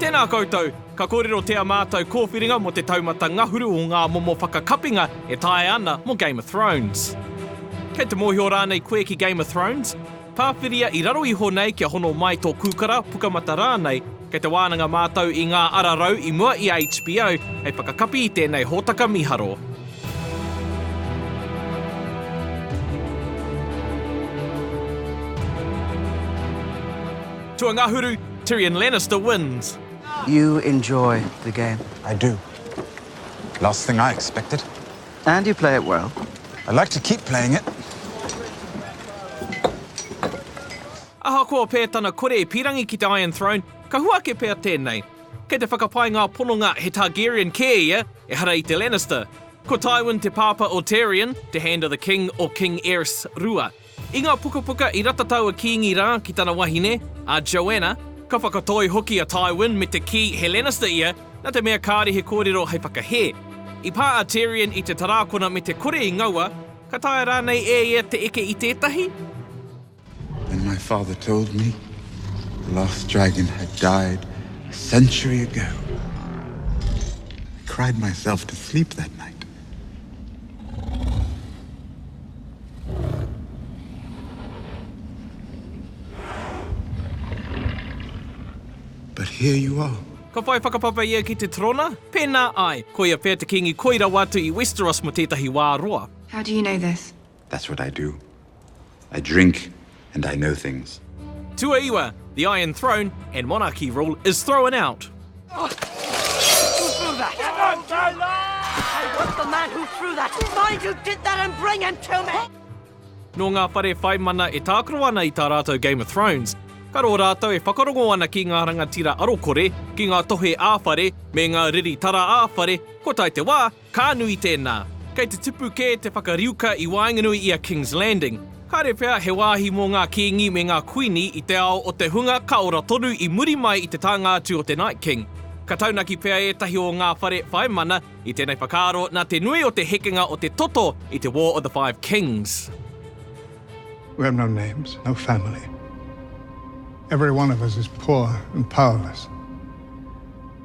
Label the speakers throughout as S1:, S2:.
S1: Tēnā koutou, ka kōrero tea mātou kōwhiringa mō te taumata ngahuru o ngā momo whakakapinga e taea ana mō Game of Thrones. Kei te mōhio rānei koe ki Game of Thrones? Pāwhiria i raro iho nei kia hono mai tō kūkara, pukamata rānei, kei te wānanga mātou i ngā ara rau i mua i a HBO hei whakakapi i tēnei hōtaka mīharo. Tuangahuru, Tyrion Lannister wins. You
S2: enjoy the game? I do.
S3: Last thing I expected. And you play
S2: it well? I'd like to keep
S3: playing it.
S1: Ahakoa pea tana kore e pīrangi ki te Iron Throne, ka hua ake pea tēnei. Kei te whakapae ngā pononga he Targaryen kē ia, ehara i te Lannister. Ko Tywin te pāpā o Tyrion, te Hand of the King o King Aerys Rua. I ngā pukapuka i ratatau a Kīngi rā ki tana wahine, a Joanna, ka whakatoi hoki a Tywin me te kī he Lannister ia, nā te mea kāre he kōrero hei whakahē. I pā a Tyrion i te tarākona me te kore i ngaua, ka taea rānei e ia te eke i tētahi?
S3: When my father told me the last dragon had died a century ago, I cried myself to sleep that night. But here you are. Ka whai whakapapa
S1: ia ki te trona? Pēnā ai! Koia pea te kīngi koi rawa atu i Westeros mō tētahi wā roa. How do you know this?
S4: That's what I do.
S3: I drink and I know things. Tuaiwa,
S1: the Iron Throne and monarchy rule is thrown out.
S4: Nō ngā
S1: whare whaimana e tākaro ana i tā rātou Game of Thrones, ka rō rātou e whakarongo ana ki ngā rangatira arokore, ki ngā tohe ā-whare me ngā riri tara ā-whare, kua tae te wā, Ka nui tēnā. Kei te tipu kē te whakariuka i waenganui i a King's Landing. Kāre pea he wāhi mō ngā kīngi me ngā kuini i te ao o te hunga ka ora tonu i muri mai i te tānga atu o te Night King. Ka taunaki pea ētahi o ngā whare whai mana i tēnei whakaaro nā te nui o te hekenga o te toto i te War of the Five Kings.
S5: We have no names, no family. Every one of us is poor and powerless.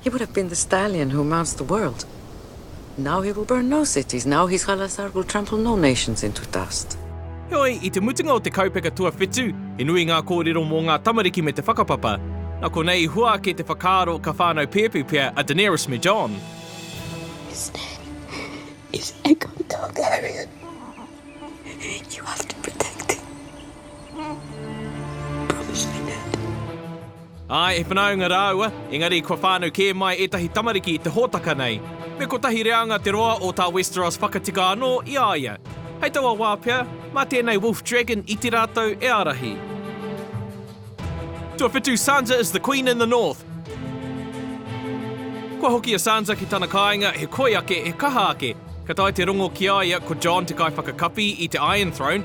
S6: He would have been the stallion who mounts the world. Now he will burn no cities, now his khalasar will trample no nations into dust. Heoi, i te
S1: mutunga o te kaupeka tuawhitu, he nui ngā kōrero mō ngā tamariki me te whakapapa. Nā konei i hua ake te whakaaro ka whānau pēpi pea a Daenerys me Jon. His
S7: name is Aegon Targaryen. You have to protect him. Promise me that. Āe,
S1: he whanaunga rāua, engari kua whānau kē mai ētahi tamariki i te hōtaka nei. Me kotahi reanga te roa o tā Westeros whakatika anō i a ia. Hei taua wā pea, mā tēnei Wolf Dragon iti rātou e ārahi. Tuawhitu, Sansa is the Queen in the North! Kua hoki a Sansa ki tana kāinga, he koi ake, he kaha ake. Ka tae te rongo ki a ia, ko Jon te kaiwhakakapi i te Iron Throne.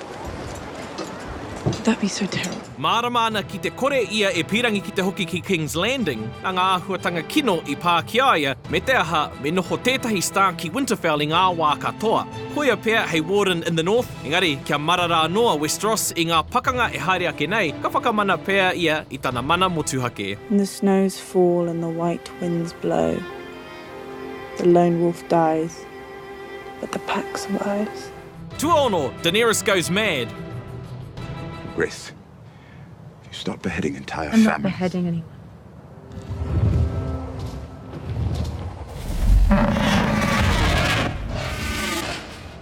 S8: Mārama ana ki te
S1: kore ia e pīrangi ki te hoki ki Kings Landing, nā ngā āhuatanga kino i pā ki a ia, me te aha, me noho tētahi star ki Winterfell i ngā wā katoa. Koia pea hei Warden in the North, engari kia marara anō a Westeros i ngā pakanga e haere ake nei, ka whakamana pea ia i tana mana motuhake. When the snows
S8: fall and the white winds blow The lone wolf dies, but the pack survives. Tuaono,
S1: Daenerys goes mad!
S3: Griff, if you start beheading entire families... I'm not beheading
S9: anyone.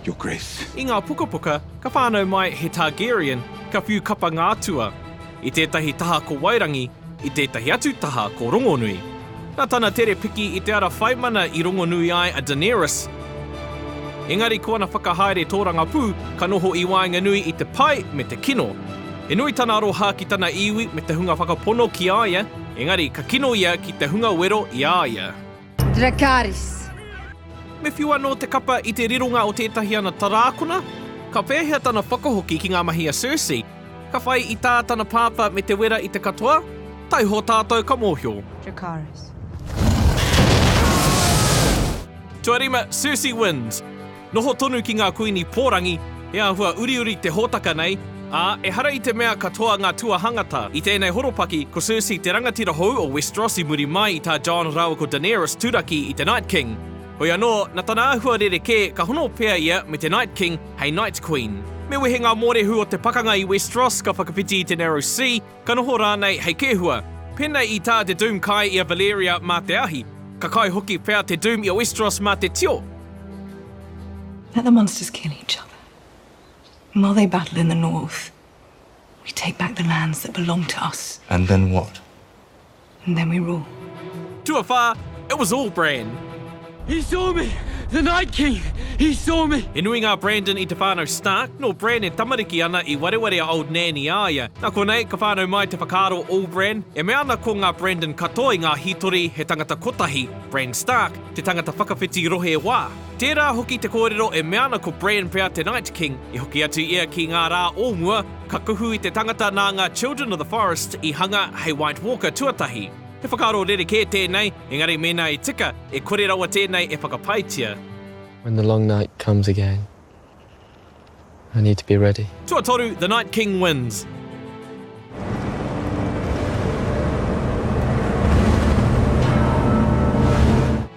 S3: Your Grace. I ngā pukapuka,
S1: ka whānau mai he Targaryen, ka whiu kapa ngā atua. I tētahi taha ko Wairangi, i tētahi atu taha ko Rongonui. Nā tana tere piki i te ara whaimana i rongonui ai a Daenerys. Engari ko ana whakahaere tōrangapū ka noho i waenganui i te pai me te kino. He nui tana aroha ki tana iwi me te hunga whakapono ki a ia, engari ka kino ia ki te hunga wero i a ia. Dracarys. Me whiu anō te kapa i te rironga o tētahi ana tarākona. Ka pēhea tana whakahoki ki ngā mahi a Cersei? Ka whai i tā tana pāpā me te wera i te katoa? Taiho tātou ka mōhio. Dracarys. Tuarima, Cersei wins! Noho tonu ki ngā kuini pōrangi, he āhua uriuri te hōtaka nei, ā, ehara i te mea katoa ngā tuahangata. I tēnei horopaki, ko Cersei te rangatira hou o Westeros i muri mai i tā Jon rāua ko Daenerys turaki i te Night King. Hoi anō, na tana āhua rerekē, ka hono pea ia me te Night King hei Night Queen. Me wehe ngā mōrehu o te pakanga i Westeros ka whakawhiti i te Narrow Sea, Ka noho rānei hei kēhua. Pēnei i tā te Doom kai i a Valyria mā te ahi. Ka kai hoki pea te Doom i a Westeros mā te tio.
S7: Let the monsters kill each other. And while they battle in the north, we take back the lands that belong to us. And then what?
S10: And then
S7: we roll. Tuawhā,
S1: It was all Bran. He saw
S4: me! The Night King! He saw me! He nui ngā Brandon i
S1: te whānau Stark, nō Bran e tamariki ana i wareware a Old Nan i a ia. Nā konei, ka whānau mai te whakaaro o All Bran, e mea ana ko ngā Brandon katoa i ngā hītori he tangata kotahi, Bran Stark, te tangata whakawhiti rohe wā. Tērā hoki te kōrero e mea ana ko Bran pea te Night King, i hoki atu ia ki ngā rā o mua, Ka kuhu i te tangata nā ngā Children of the Forest i hanga hei White Walker tuatahi. He whakaaro rerekē tēnei, engari mēnā i tika, e kore rawa tēnei e whakapaetia. When the long
S11: night comes again, I need to be ready. Tuatoru, The Night
S1: King wins.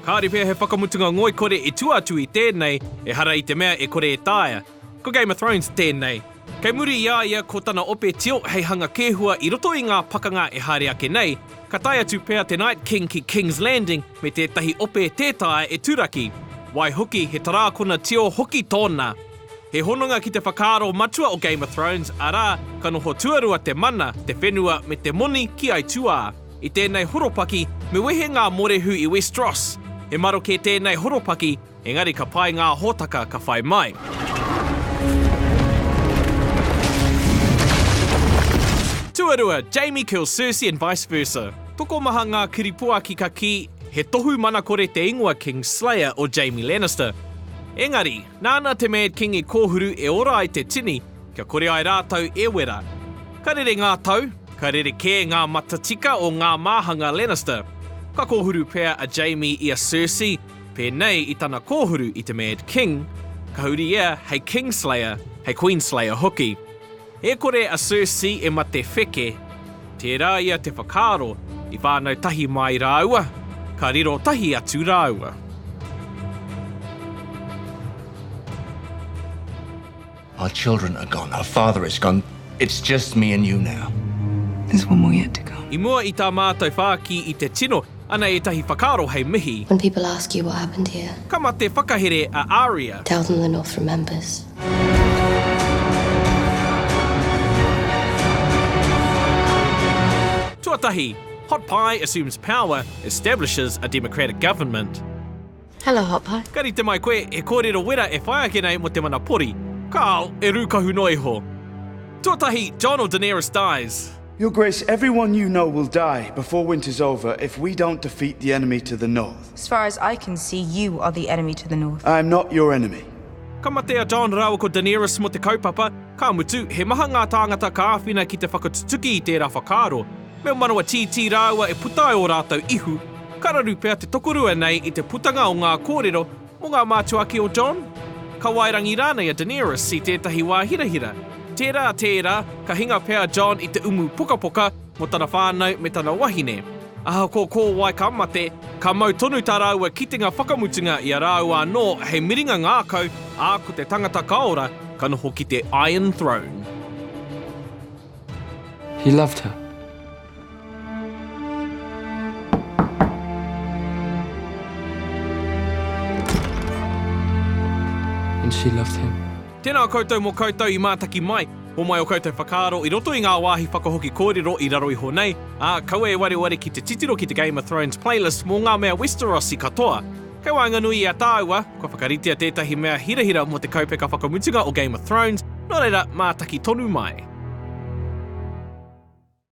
S1: Kāore pea he whakamutunga ngoikore i tua atu i tēnei, ehara i te mea e kore e taea. Ko Game of Thrones tēnei. Kei muri i a ia ko tana ope tio hei hanga kēhua i roto i ngā pakanga e haere ake nei, ka tae atu pea te Night King ki King's Landing me tētahi ope tē taea e Turaki. Waihoki, he tarākona tio hoki tōna. He hononga ki te whakaaro matua o Game of Thrones, arā, ka noho tuarua te mana, te whenua me te moni ki aituā. I tēnei horopaki, me wehe ngā morehu i Westeros. He maroke tēnei horopaki, Engari ka pai ngā hōtaka ka whai mai. Tuarua, Jamie kills Cersei and vice versa. Tokomaha ngā kiripuaki ka kī, he tohu manakore te ingoa King Slayer o Jamie Lannister. Engari, nāna te Mad King i kōhuru e ora ai te tini, kia kore ai rātou e wera. Ka rere ngā tau, ka rere kē ngā matatika o ngā māhanga Lannister. Ka kōhuru pea a Jamie i a Cersei, Pēnei i tana kōhuru i te Mad King, ka huri ia hei King Slayer, hei Queen Slayer hoki. E kore a Cersei e mate wheke, tērā ia te whakaaro i whānau tahi māi rāua, ka riro tahi atu rāua.
S10: Our children are gone, our father is gone, it's just me and you now. There's one more
S7: yet to come. I mua i tā mātou
S1: whāki i te tino, ana ētahi whakaaro hei mihi. When people ask you what
S12: happened here. Ka mate whakahere
S1: a Aria. Tell them the North
S12: remembers.
S1: Tuatahi, Hot Pie assumes power, establishes a democratic government. Hello
S12: hot pie. Ka rite mai koe, he
S1: kōrero wera e whai ake nei mō te mana pori. Carl, e rūkahu noa iho. Tuatahi, John or Daenerys dies. Your Grace, everyone
S13: you know will die before winter's over if we don't defeat the enemy to the north. As far as I can see,
S8: you are the enemy to the north. I am not your enemy.
S13: Ka mate a John
S1: rāua ko Daenerys mō te kaupapa, ka mutu, he maha ngā tāngata ka āwhina ki te whakatutuki i tērā whakaaro. me ō manawa tītī rāua e puta ai ō rātou ihu, ka raru pea te tokorua nei i te putanga o ngā kōrero mō ngā mātua ake o Jon, Kawairangi rānei a Daenerys i tētahi wā hirahira. Tērā, tērā, ka hinga pea a Jon i te umu pokapoka mō tana whānau me tana wahine. Ahakoa ko wai ka mate, ka mau tonu tā rāua kitenga whakamutunga i a rāua anō hei miringa ngākau, ā, ko te tangata kaora ka noho ki te Iron Throne.
S11: He loved her. And she loved him. Tēnā koutou mō
S1: koutou i mātaki mai. Homai o koutou whakaaro i roto i ngā wāhi whakahoki kōrero i raro iho nei, ā, kaua e wareware ki te titiro ki te Game of Thrones playlist mō ngā mea Westerosi katoa. He waenganui i a tāua, kua whakaritea tētahi mea hirahira mō te kaupeka whakamutunga o Game of Thrones, nō reira, mātaki tonu mai.